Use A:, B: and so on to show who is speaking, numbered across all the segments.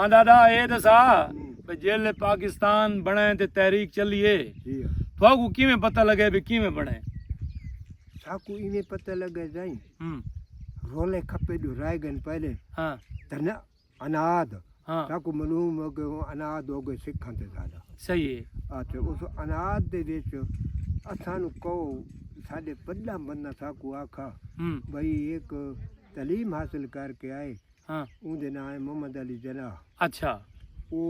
A: آندا دا اے دسا بھئی جیل پاکستان بنے تے تحریک چلی اے تھاکو کیویں پتہ لگے بھی کیویں بنے ساکو
B: ایویں پتہ لگے جائیں رولے کھپے جو رائے گن پہلے ہاں تن اناد ہاں تاکو
A: معلوم ہو کہ
B: اناد ہو گئے سکھاں تے زیادہ صحیح ہے اچھا
A: اس
B: اناد دے وچ اساں نو کو ساڈے پڈا بندہ ساکو آکھا بھئی ایک تعلیم حاصل کر کے آئے ہاں اون دے نام
A: ہے محمد
B: علی جناح اچھا
A: او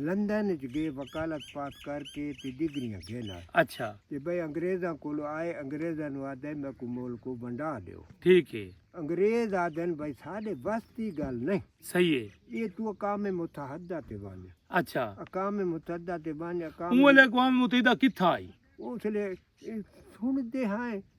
B: لندن وچ گئے وکالت پاس کر کے تے ڈگریاں گھن آئے اچھا تے بھائی
A: انگریزاں
B: کولو آئے انگریزاں نو آدھے میں کو مول کو ونڈا دیو ٹھیک ہے
A: انگریز آدھن
B: بھائی ساڈے وستی گل نہیں صحیح ہے یہ
A: تو اقام
B: متحدہ تے بن اچھا اقام
A: متحدہ
B: تے بن اقام اون لے اقام متحدہ
A: کتھا آئی اس لے
B: سن دے ہیں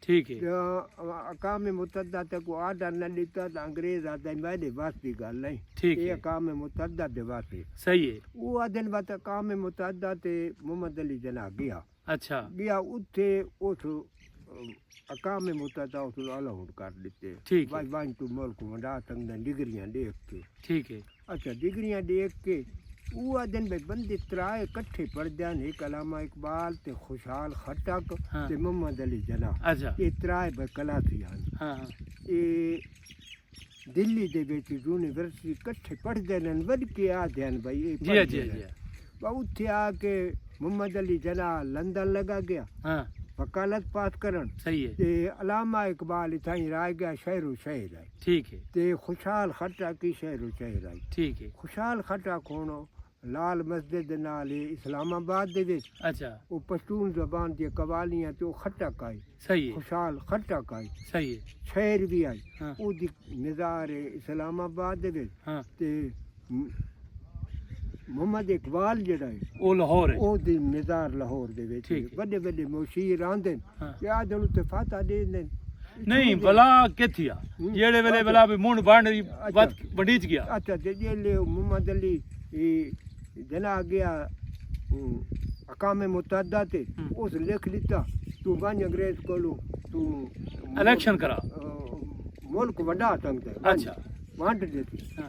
B: ٹھیک ہے۔
A: اقوام
B: متحدہ تے کوئی آرڈر نہ ڈتا تاں انگریز آہدے میڈے وس دی گل نئیں۔ ٹھیک ہے۔ اے اقوام
A: متحدہ
B: دے وس ہے۔ صحیح ہے۔ او
A: آہدن بس اقوام
B: متحدہ تے محمد علی جناح گیا۔ اچھا۔ گیا
A: اتھے
B: اس اقوام متحدہ اس الاؤڈ کر ڈتے۔ ٹھیک ہے۔ بس ونج توں
A: ملک ونڈا
B: سگدیں ڈگریاں ڈیکھ کے۔ ٹھیک ہے۔ اچھا
A: ڈگریاں
B: ڈیکھ کے او آدھن بھئی بندے ترائے کٹھے پڑھدن ہک علامہ اقبال تے خوشحال خٹک تے محمد
A: علی جناح
B: اچھا اے ترائے
A: بھئی
B: کلافی ہن ہاں ہاں اے دلی دے وچ یونیورسٹی کٹھے پڑھدے ہن ود کے آدھے ہن بھئی اے جی جی جی
A: با اوتھے آ
B: کے محمد علی جناح لندن لگا گیا ہاں وکالت
A: پاس
B: کرن صحیح ہے تے
A: علامہ
B: اقبال اتھاں ہی رہ گیا شہر و شہر ہے ٹھیک ہے۔ تے
A: خوشحال
B: خٹک کی شہر و چہر آئی۔ ٹھیک ہے۔ خوشحال
A: خٹک ہن
B: لال مسجد دے نال ہے اسلام آباد دے وچ۔ اچھا۔ او پشتون زبان دیاں قوالیاں تے او خٹک آئی۔ صحیح ہے۔ خوشحال
A: خٹک آئی۔
B: صحیح ہے۔ شہر
A: وی آئی۔ ہاں۔
B: اودی
A: مزار
B: ہے اسلام آباد دے وچ۔ ہاں۔ تے۔ محمد اقبال جڑا ہے او لاہور ہے او دی
A: مزار لاہور
B: دے وچ ٹھیک ہے۔ بڑے بڑے
A: مشیر
B: آندے ہاں۔ کہ آ جڑو تے
A: فاتح
B: دے دین نہیں بلا
A: کتھیا ہوں۔ جیڑے ویلے بلا بھی منڈ بانڈ اچھا۔ ود بڈیج گیا اچھا تے جیلے او
B: محمد علی اے جنا گیا ہوں، اقام متحدہ تے ہوں۔ اس لکھ ڈتا تو ونج انگریز کولو تو الیکشن
A: کرا ملک
B: وڈا تنگ ہے اچھا۔ وانٹ
A: دیتی ہاں۔